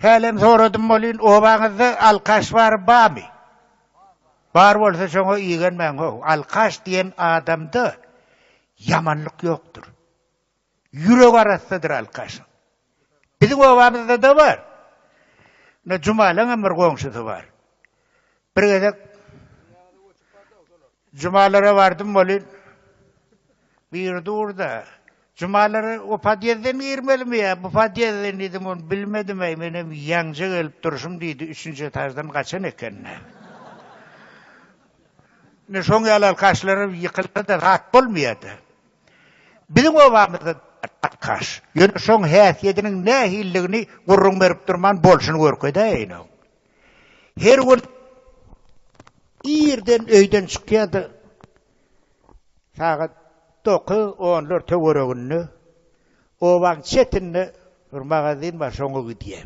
Hälem soradym bolýyn, obaňyzda alkaş bar bamy? Bar bolsa şoňa igenmäň how, alkaş diýen adamda ýamanlyk ýokdur. Ýürek arassadyr alkaşyň. Biziň obamyzda-da bar. Ine Jumalaňam bir goňşusy bar. Bir gezek Jumalara bardym welin, biri dur-da, Jumalara o podýezde mi girmelimi ýa bu podýezde diýdim, ony bilmedim-eý, menem ýaňja gelip durşum diýdi, üçünji etaždan gaçan eken-dä. Ine, şoň ýaly alkaşlara ýykylsa-da zat bolmaýar-da. Biziň obamyzda alkaş, ýöne şoň häsiýediniň nähilidigini gürrüň berip durman bolşuny görkezäýeýin-ow. Her gün irden öýden çykýardy. Sagat dokuz onlar töwereginde obaň çetinde bir magazin bar, şoňa gidýär.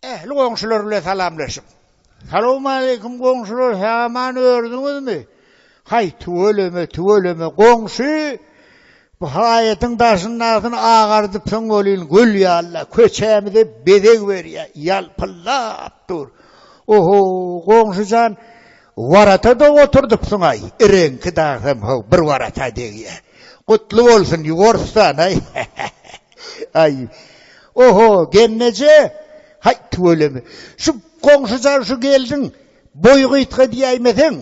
Ähli goňşular bilen salamlaşyp. Salowmaleýkim goňşular sähman ördüňizmi? Haý tüweleme tüweleme goňşy bu haýatyň daşyndasyny agardypsyň welin gül ýaly-la köçämize bezeg berýä ýalpyldap dur. Oho goňşy jan warata-da oturdypsyň-aý reňki dagsam how bir warata degýä. Gutly bolsun Ýugorstan-aý he he he. Aý. Oho, gelneje. Haý, tüweleme. Şu goňşuja şu geldiň, boýy gysga diýäýmeseň,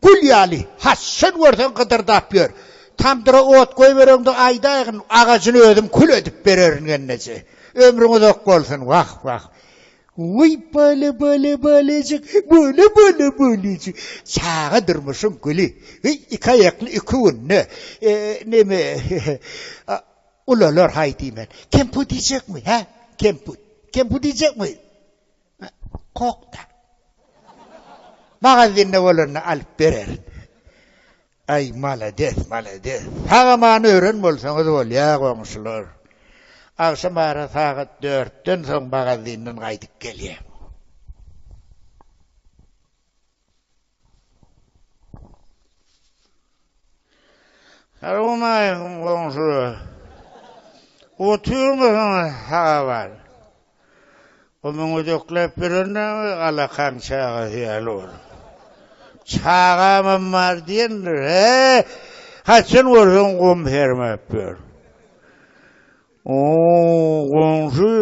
gül ýaly, haçan görseň gydyrdap ýör. Tamdyra ot goýbereňde aýdaýgyn, agajyny özüm kül edip bererin, gelneje. Ömrüň uzak bolsun. Wah, wah. Wiý, bala, bala, balajyk, bala, bala, balajyk. Çaga durmuşyň güli. Wiý, iki aýakly iki günde. Neme, Ulular haý diýmän. Kemput iýjekmi, hä? Kemput. Kemput iýjekmi? Kok-da. Magazinde bolanda alyp bererin. Aý, malades, malades. Sag-aman ören bolsaňyz bolýa, goňşular. Agşam ara sagat dörtden soň magazinden gaýdyp gelýäň. Salowmaleýkim goňşular. Otyrmysyň saga bar. O muň ödekläp berendigimi alakan çagasy ýaly bolup. Çagamam bar diýendir. He! Haçan görseň gum sermäp ýör. O, goňşy,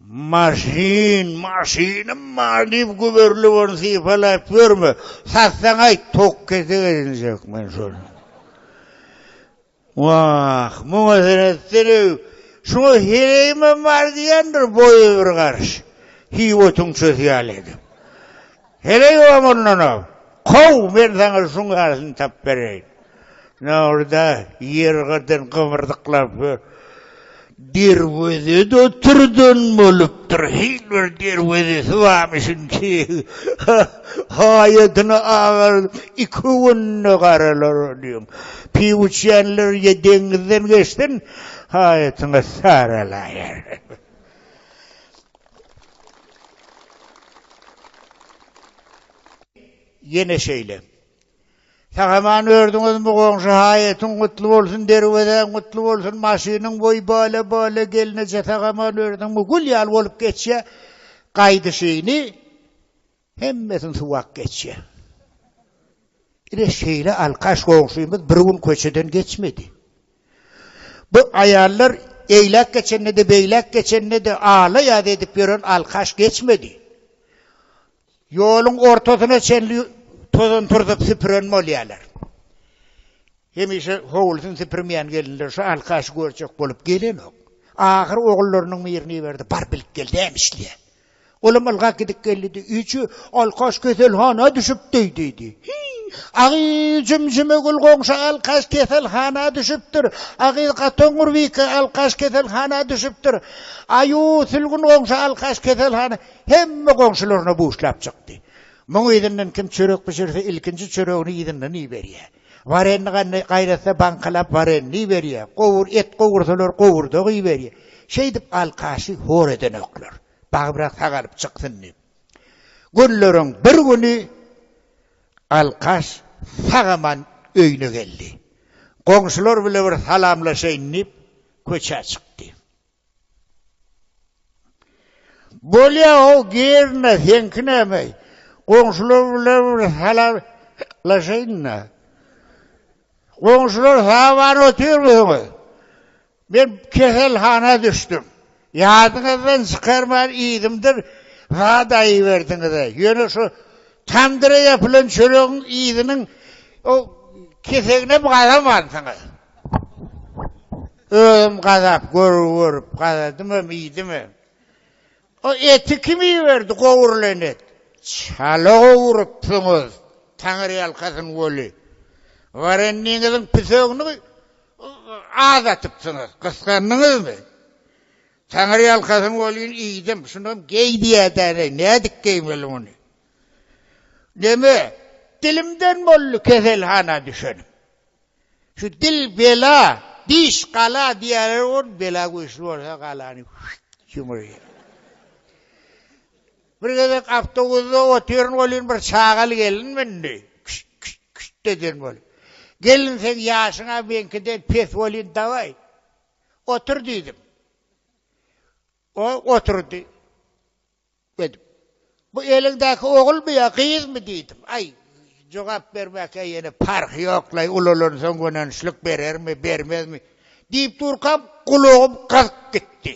Maşyn, maşynym bar diýip güberlip ony sypalaýyp ýörme. Satsaň aýt, tok kesek edinjek men şony. Wah, muňa sen etsene, şuňa hereýimem bar diýendir boýy bir garş, hiý otuň çösi ýaly edip. Heleý oňa mundana, kow, men saňa şuň ýalysyny tapyp bereýin. Nowruda ýergyrdan gybyrdyklap ýör. Derwezede oturdan bolupdyr. Hil bir derwezesi barmyşyn ki, haýadyna agaryp, iki günde garalar diýiň. Piw içýänler ýa deňizden geçsin, haýatyňa saralaýar. Ýene şeýle. Sagaman ördüňiz mi goňşy haýatyň gutly bolsun derwezäň gutly bolsun maşynyň boý bala bala gelneje sagaman ördüňmi gül ýaly bolup geçýä gaýdyşyny Hemmesini suwak geçýär. Ine şeýle alkaş goňşymyz bir gün köçeden geçmedi. Bu aýallar eýläk geçende-de, beýläk geçende-de ala-ýaz edip ýören alkaş geçmedi. Ýoluň ortasyna çenli tozan turzup süpüren bolýarlar. Hemişe howlusyny süpürmeýän gelinler şu alkaşy görjek bolup gelenok. Ahyry ogullarynyň birini iberdi, Bar bilip gel, näme işleýäň? Olam ylgap gidip geldi-de, Üýçi, Alkaş keselhana düşüpdi, diýdi. Hiý, agyz jümjümegül goňşy Alkaş keselhana düşüpdir. Agyz gatoňňur Wiki Alkaş keselhana düşüpdir. Aýu sülgün goňşy Alkaş keselhana Hemme goňşularyna buşlap çykdy. Muň yzyndan kim çörek bişirse, ilkinji çöregini yzyndan iberýär. Warenni gandaý gaýnatsa baňkalap warenni berýä, gowur et gowursalar gowurdagy berýä. Şeýdip alkaşy hor edenoklar. Bagybrak sagalyp çyksyn diýip. Günleriň bir güni alkaş sag-aman öýüne geldi. Goňşular bile bir salamlaşaýyn diýip köçä çykdy. Bolýa o girne seňki näme? Goňşular bilen bir salamlaşaýyn-da. Goňşular saman otyrmysyňyz? Men keselhana düşdüm. Ýadyňyzdan çykarman yzymdyr zat aýyberdiňiz-ä. Ýöne şu tamdyra ýapylan çöregiň yzynyň o keseginem gazamansyňyz. Özüm gazap görgi görüp gazadymam, iýdimem. O eti kim iberdi, gowrulan et? Çala gowrupsyňyz, taňryýalkasyn weli. Warennigiňiziň pisegini az atypsyňyz, gysgandyňyzmy? Taňryýalkasyn welin, iýdim. Şunam geý diýädäne, nädip geýmeli muny? Neme, dilimden boldy keselhana düşenim. Şu dil bela, diş gala diýerler gon, bela güýçli bolsa galany ýumurýar. Bir gezek awtobusda otyryn welin bir çagaly gelin mündi. Küşt küşt küşt eden bolup. Gelin sen ýaşyňa meňkiden pes welin dawaý. Otur diýdim. O oturdy. Dedim. Bu eliňdäki ogulmy ýa gyzmy diýdim. Aý, jogap bermäkä ýene parhy ýok-laý, ulalansoň gönençlik berermi, bermezmi? diýip durkam, gulagym gyzyp gitdi.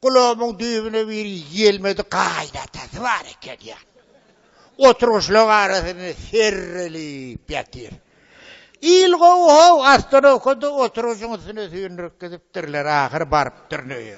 Gulagymyň düýbüne bir ýelmedi gaýnatasy bar eken ýa. Oturgyçlaryň arasynda serrelip ýatyr. Il gowy-how, ostanowkada oturgyçyň üstüne süýndürip gidipdirler, ahyry barypdyryn öýe.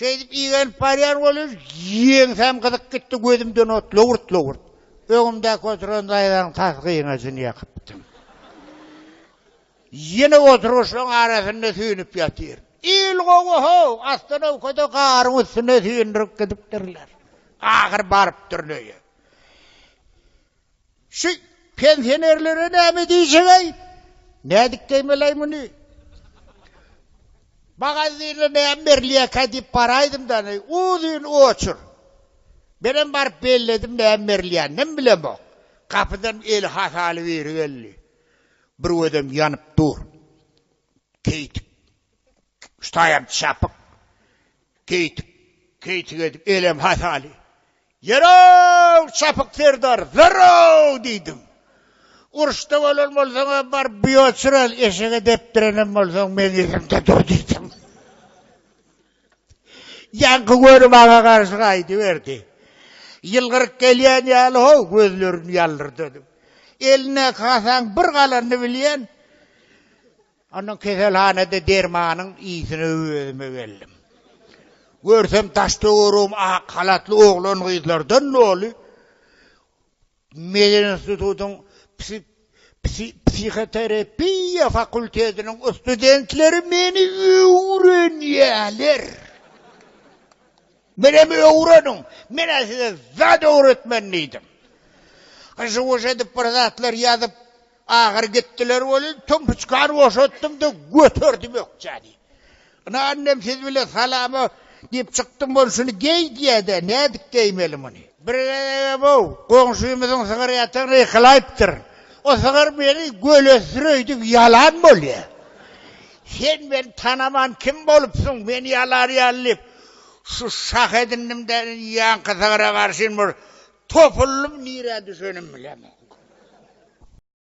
Şeýdip igenip barýan bolýar, ýeňsäm gyzyp gitdi, gözümden ot lowurt-lowurt. Öňümdäki oturan daýzanyň tas gyňajyny ýakypdym. Ýene oturgyçlaryň arasynda süýnüp ýatyryn. Il gowy-how, astanowkada garyň üstüne süýndürip gidipdirler. Ahyry barypdyryn öýe. Şu pensionerlere näme diýjegäý? Nädip geýmelei muny? Magazine näme berilýäkä diýip baraýdymda, uzyn oçur. Menem baryp belledim näme berilýänini hem bilemok. Gapydan eli hasaly biri geldi. Bir gözem ýanyp dur. Keýtik. Ştaýam çapyk. Keýtik. Keýtik edip elem hasaly. Ýör-ow, Çapyk serdar, ýör-ow! diýdim. Uruşda bolan bolsaň-a, bar bioçraz eşege depdirenem bolsaň, meň yzymda dur diýdim. Ýaňky göri maňa garşy gaýdyberdi. Ýylgyryp gelýän ýaly, ho, gözlerini ýallyrdady. Elindäki hasaň bir galanyny bilýän. Ondan keselhanada dermanyň ysine özüme geldim. Görsem daş-töweregim ak halatly oglan-gyzlardan doly. Medinstitutyň psihoterapiýa fakultetiniň studentleri meni öwrenýärler. Menem öwreniň, men-ä size zat öwretmen diýdim. Gyşy boşadyp bir zatlar ýazyp, Agyr gitdiler welin, tümpüçkany boşatdym-da, göterdim ökjäni. Ynha, annem siz bilen salama diýip çykdym, bolşuny geý diýýä-dä, nädip geýmeli muny? Bir gezegem-ow, goňşymyzyň sygyry ýatygyny ykylaýypdyr. O sygyr meni gölesdir öýdüp ýalan bolýa. Sen meni tanaman kim bolupsyň, meni ýalarýaly diýip, şu şah edindim-de, indi ýaňky sygyra garşyn bir topuldym, nirä düşenim bilemok.